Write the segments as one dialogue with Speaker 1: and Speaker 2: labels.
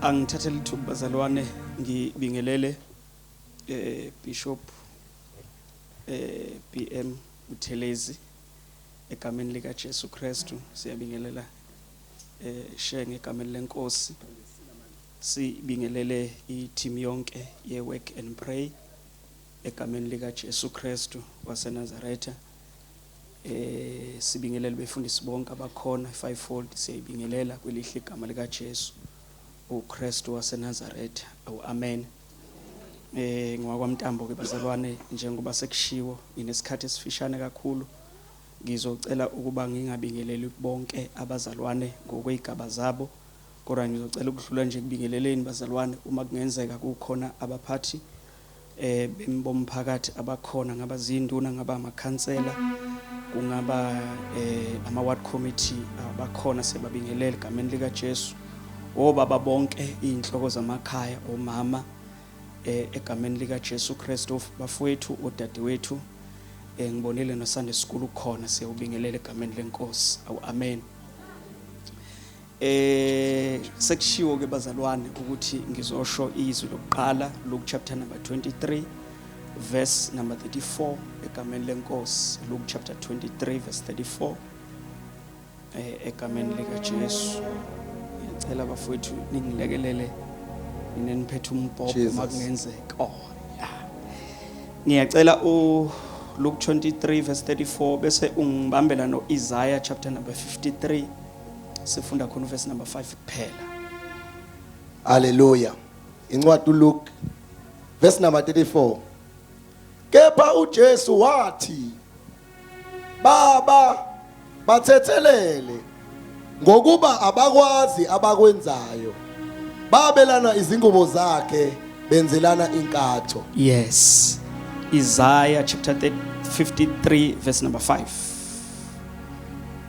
Speaker 1: angithathe lithuba bazalwane ngibingelele eh bishop eh BM Uthelezi egameni lika Jesu Kristu siyabingelela eh shenge egameni lenkosi sibingelele i-team yonke ye-work and pray egameni likaJesu Kristu waseNazaretha Eh sibingelele befundisi bonke abakhona fivefold siyayibingelela kwelihle igama lika Jesu uKristu waseNazareth. Awu amen. Eh ngwakwamntambo ke bazalwane njengoba sekushiwo nginesikhathi esifishane kakhulu ngizocela ukuba ngingabingeleli bonke abazalwane ngokwezigaba zabo kodwa ngizocela ukudlula nje kubingeleleni bazalwane uma kungenzeka kukhona abaphathi um bomphakathi abakhona ngaba ziyinduna ngaba amakhansela kungaba um ama-ward committee abakhona sebabingelele egameni likajesu obaba bonke iy'nhloko zamakhaya omama um egameni likajesu kristu bafowethu odadewethu um ngibonile nosande sikhulu khona siyawubingelela egameni lenkosi awu amen Eh sekushiwo ke bazalwane ukuthi ngizosho izwi lokuqala Luke chapter number 23 verse number 34 egameni lenkosi Luke chapter 23 verse 34 eh egameni lika Jesu ngiyacela bafowethu ningilekelele mina niphethe umbhobho Jesus. makungenzeka oh ya ngiyacela u Luke 23 verse 34 bese ungibambela no Isaiah chapter number 53 sifunda khona uverse number 5 kuphela
Speaker 2: haleluya incwadi uLuke verse number 34 kepha uJesu wathi baba bathethelele ngokuba abakwazi abakwenzayo babelana izingubo zakhe benzelana inkatho yes
Speaker 1: Isaiah chapter 53 verse number 5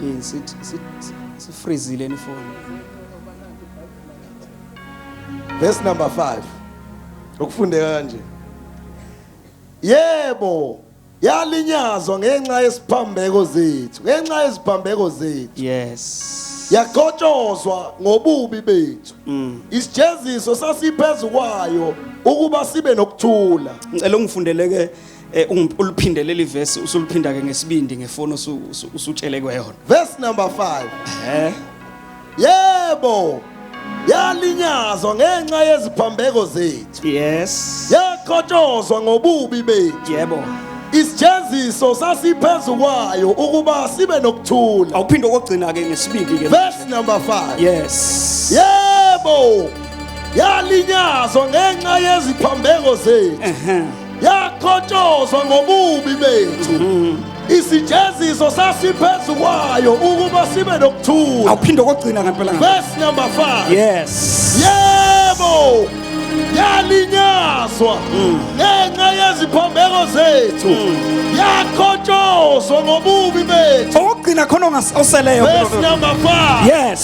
Speaker 1: yini sithi sifrizile ifoni
Speaker 2: verse number 5 ukufundeka kanje yebo yalinyazwa ngenxa yesiphambeko zethu ngenxa yeziphambeko zethu yes
Speaker 1: yaqhotshozwa
Speaker 2: ngobubi bethu mm. isijeziso sasiphezu kwayo ukuba sibe nokuthula ngicela ungifundeleke
Speaker 1: eh, uliphindelele ivesi usuliphinda ke ngesibindi ngefoni usutshele kweyona verse number 5
Speaker 2: eh yebo yalinyazwa ngenxa yeziphambeko zethu yes
Speaker 1: yakhotshozwa
Speaker 2: ngobubi bethu yebo
Speaker 1: isijeziso
Speaker 2: sasiphezu kwayo ukuba sibe nokuthula awuphinde okugcina ke
Speaker 1: ngesibindi ke verse number 5
Speaker 2: yes
Speaker 1: yebo
Speaker 2: yalinyazwa ngenxa yeziphambeko zethu yakhotshozwa ngobubi bethu mm. isijeziso sasiphezu kwayo ukuba sibe nokuthula awuphinde kokugcina ngempela
Speaker 1: verse number 5
Speaker 2: yes
Speaker 1: yebo
Speaker 2: yalinyazwa mm. ngenxa yeziphambeko zethu mm. yakhotshozwa ngobubi bethu okugcina khona
Speaker 1: oseleyo verse number 5
Speaker 2: yes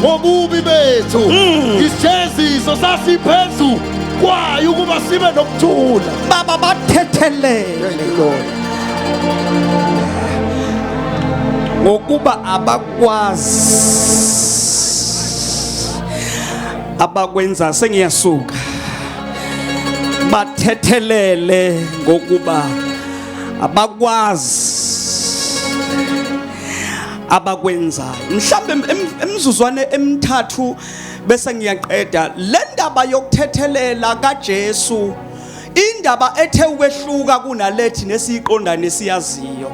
Speaker 2: ngobubi bethu hmm. isijeziso sasiphezu kwayo ukuba sibe nokuthula baba
Speaker 1: bathethelele ngokuba abakwazi abakwenza sengiyasuka bathethelele ngokuba abakwazi abakwenzayo mhlawumbe emizuzwane emithathu bese ngiyaqeda le ndaba yokuthethelela kaJesu indaba ethe ukwehluka kunalethi nesiyiqonda nesiyaziyo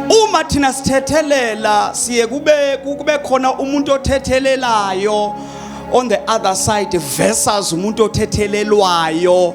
Speaker 1: uma thina sithethelela siye kube kube khona umuntu othethelelayo on the other side versus umuntu othethelelwayo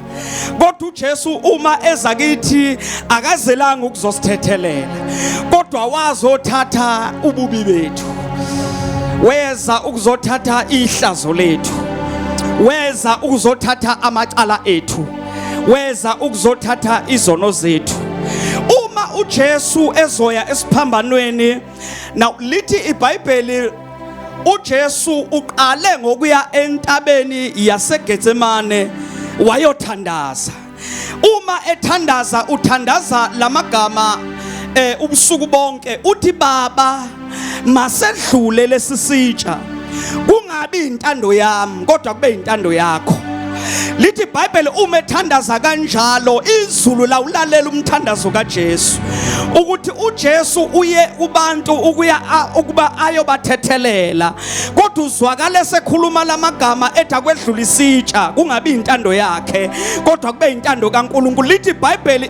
Speaker 1: kodwa uJesu uma eza kithi akazelanga ukuzosithethelela kodwa wazothatha ububi bethu weza ukuzothatha ihlazo lethu weza ukuzothatha amacala ethu weza ukuzothatha izono zethu uma uJesu ezoya esiphambanweni now lithi ibhayibheli uJesu uqale ngokuya entabeni yaseGetsemane wayothandaza uma ethandaza uthandaza lamagama eh ubusuku bonke uthi baba masedlule lesisitsha kungabi intando yami kodwa kube intando yakho lithi ibhayibheli uma ethandaza kanjalo izulu lawulalela umthandazo kaJesu ukuthi uJesu uye kubantu ukuya ukuba ayobathethelela kodwa uzwakala esekhuluma lamagama ethi akwedlula isitsha kungabi intando yakhe kodwa kube intando kaNkuluNkulu lithi ibhayibheli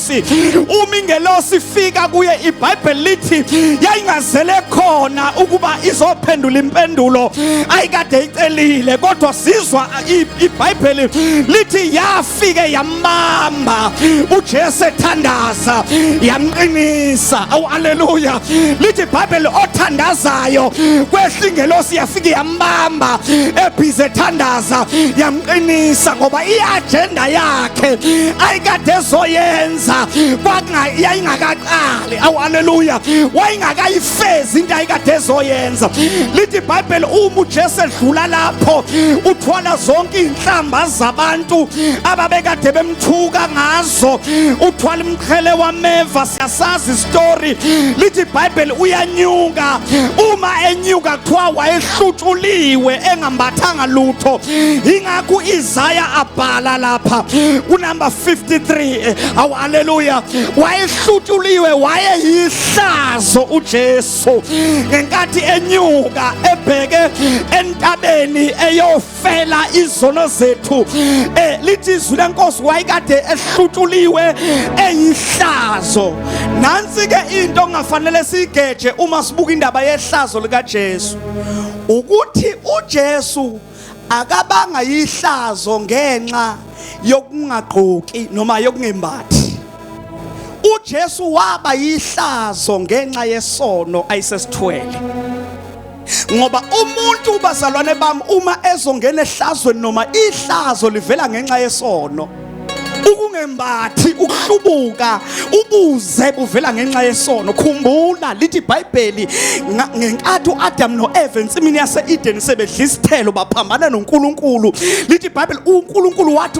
Speaker 1: ingelosi uma ingelosi ifika kuye ibhayibheli lithi yayingazele khona ukuba izophendula impendulo ayikade icelile kodwa sizwa ibhayibheli lithi yafike yamamba ujesu ethandaza yamqinisa awu aleluya lithi ibhayibheli othandazayo kwehla ingelosi yafike yambamba ebhize ethandaza qinisa ngoba iagenda yakhe ayikade ezoyenza yayingakaqali awu aleluya wayingakayifezi into ayikade ezoyenza lithi ibhayibheli uma ujesu edlula lapho uthola zonke iy'nhlamba zabantu ababekade bemthuka ngazo ngazo uthwala umqhele wameva siyasazi isitori lithi ibhayibheli uyanyuka uma enyuka kuthiwa wayehlutshuliwe engambathanga lutho yingakho izaya abhala lapha kunumber 53 awu aleluya wayehlutshuliwe wayeyihlazo ujesu ngenkathi enyuka ebheke entabeni eyofa fela izono zethu eh lithi izwi lenkosi wayikade ehlutuliwe eyihlazo nansi ke into ongafanele sigeje uma sibuka indaba yehlazo lika Jesu ukuthi uJesu akabanga yihlazo ngenxa yokungagqoki noma yokungembathi uJesu waba yihlazo ngenxa yesono ayisesithwele ngoba umuntu ubazalwane bami uma ezongena ehlazweni noma ihlazo livela ngenxa yesono ukungembathi ukuhlubuka ubuze buvela ngenxa yesono khumbula lithi iBhayibheli ngenkathi uAdam noEva ensimini yaseEden sebedla isithelo baphambana noNkulunkulu lithi iBhayibheli uNkulunkulu wathi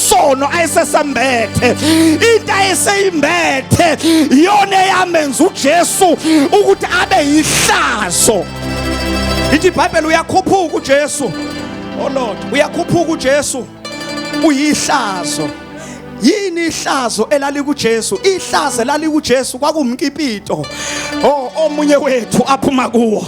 Speaker 1: isono ayesesambethe into ayeseyimbethe yona eyamenza uJesu ukuthi abe yihlazo ithi iBhayibheli uyakhuphuka uJesu oh Lord uyakhuphuka uJesu uyihlazo yini ihlazo elalikuJesu ihlazo elalikuJesu kwakumkipito oh omunye wethu aphuma kuwo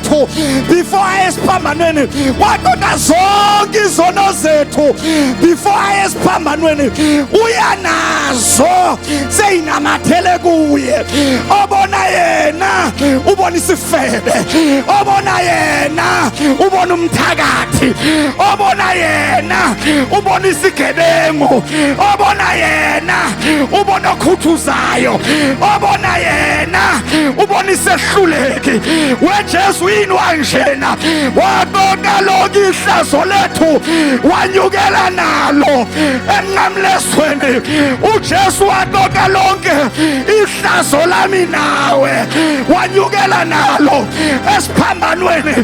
Speaker 3: zethu before aye esiphambanweni waqoqa zonke izono zethu before aye esiphambanweni uyanazo seyinamathele kuye obona yena ubona isifebe obona yena ubona umthakathi obona yena ubona isigebengu obona yena ubona okhuthuzayo obona yena ubona ahluleki wejesu yini wanjena wabona lonke ihlazo lethu wanyukela nalo emnqamlesweni ujesu wabona lonke ihlazo lami nawe wanyukela nalo esiphambanweni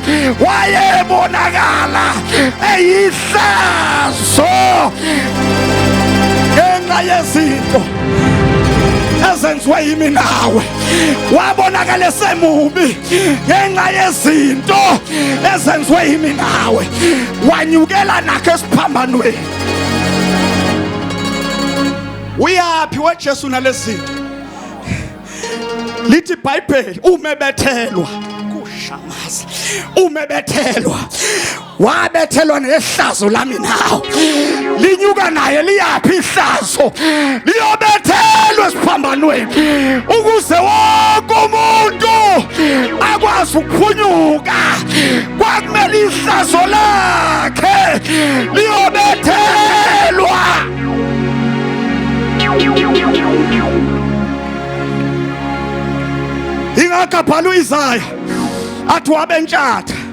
Speaker 3: wayebonakala eyihlazo ngenxa yezinto ezenziwe yimi nawe wabonakala esemubi ngenxa yezinto ezenziwe yimi nawe wanyukela nakho esiphambanweni uyaphi wejesu nalezi zinto lithi ibhayibheli umebethelwa kushamaza umebethelwa wabethelwa nehlazo lami nawo linyuka naye liyaphi ihlazo liyobethelwa esiphambanweni ukuze wonke umuntu akwazi ukuphunyuka kwakumele ihlazo lakhe liyobethelwa ingakabhala uyizaya athi wabentshatha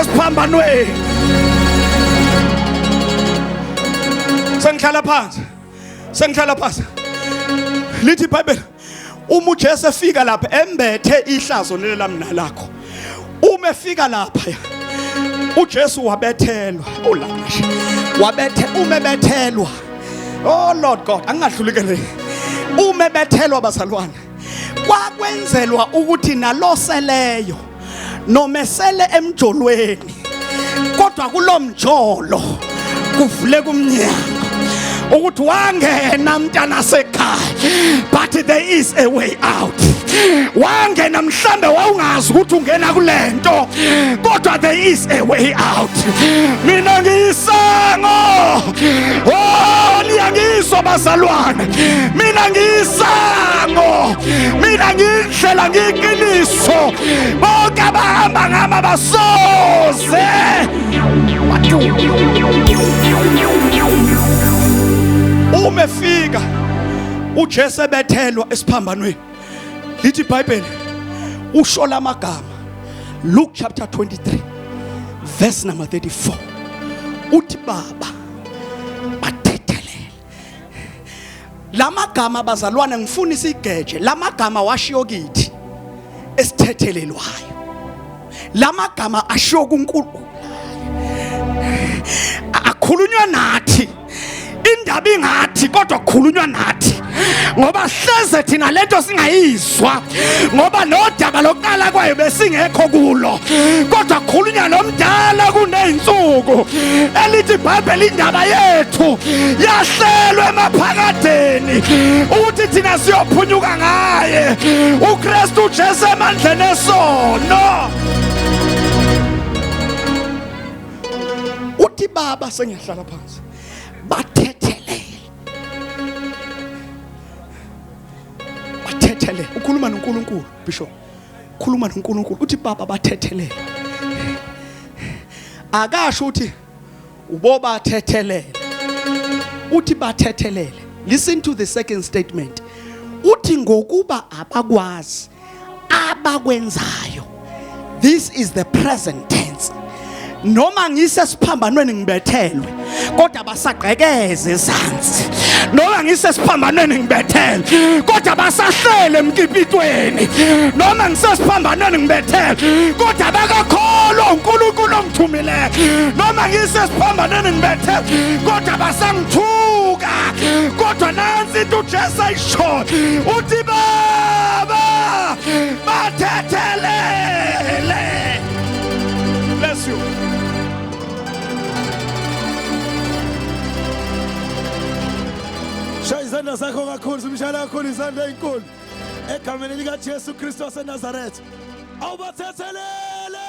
Speaker 3: esiphambanweni sengihlala phansi sengihlala phansi lithi ibhayibheli uma uJesu efika lapha embethe ihlazo leli lamnalakho uma efika lapha uJesu wabethelwa ulamasha wabethe uma ebethelwa oh lord god angingadlulikele uma ebethelwa bazalwane kwakwenzelwa ukuthi naloseleyo nomesele emjolweni kodwa kulomjolo kuvule kumnyango ukuthi wangena mntana sekhaya but there is a way out wangena mhlambe wawungazi ukuthi ungena kulento kodwa there is a way out mina ngiyisango oh liyangizwa bazalwane mina ngiyisango mina ngi Hlela ngiqiniso bonke abahamba ngami abasoze uma efika uJesu ebethelwa esiphambanweni lithi iBhayibheli usho lamagama Luke chapter 23 verse number 34 uthi baba bathethelela lamagama abazalwane ngifuna isigeje lamagama washiyo kithi esithethelelwayo lamagama ashiyo kuNkulunkulu akhulunywa nathi indaba ingathi kodwa kukhulunywa nathi ngoba hleze thina lento singayizwa ukuzwa ngoba nodaba lokuqala kwayo besingekho kulo kodwa khulunya nomdala kuney'nsuku elithi ibhayibheli indaba yethu yahlelwe emaphakadeni ukuthi thina siyophunyuka ngaye ukristu ujesu emandleni esono uthi baba sengiyahlala phansi bathethelele ukhuluma noNkulunkulu bishop khuluma noNkulunkulu uthi baba bathethelele akasho uthi ubobathethelele uthi bathethelele listen to the second statement uthi ngokuba abakwazi abakwenzayo this is the present tense noma ngisesiphambanweni ngibethelwe kodwa basagqekeze ezansi noma ngisesiphambanweni ngibethelwe kodwa basahlele emkipitweni noma ngisesiphambanweni ngibethelwe kodwa bakakholwa uNkulunkulu ongithumileyo noma ngisesiphambanweni ngibethelwe kodwa basangithuka kodwa nansi into uJesu shot uthi baba bathethelele bless you
Speaker 2: shaya izandla zakho kakhulu simshayela kakhulu izandla ezinkulu egameni likaJesu Kristu waseNazaretha awubathethelele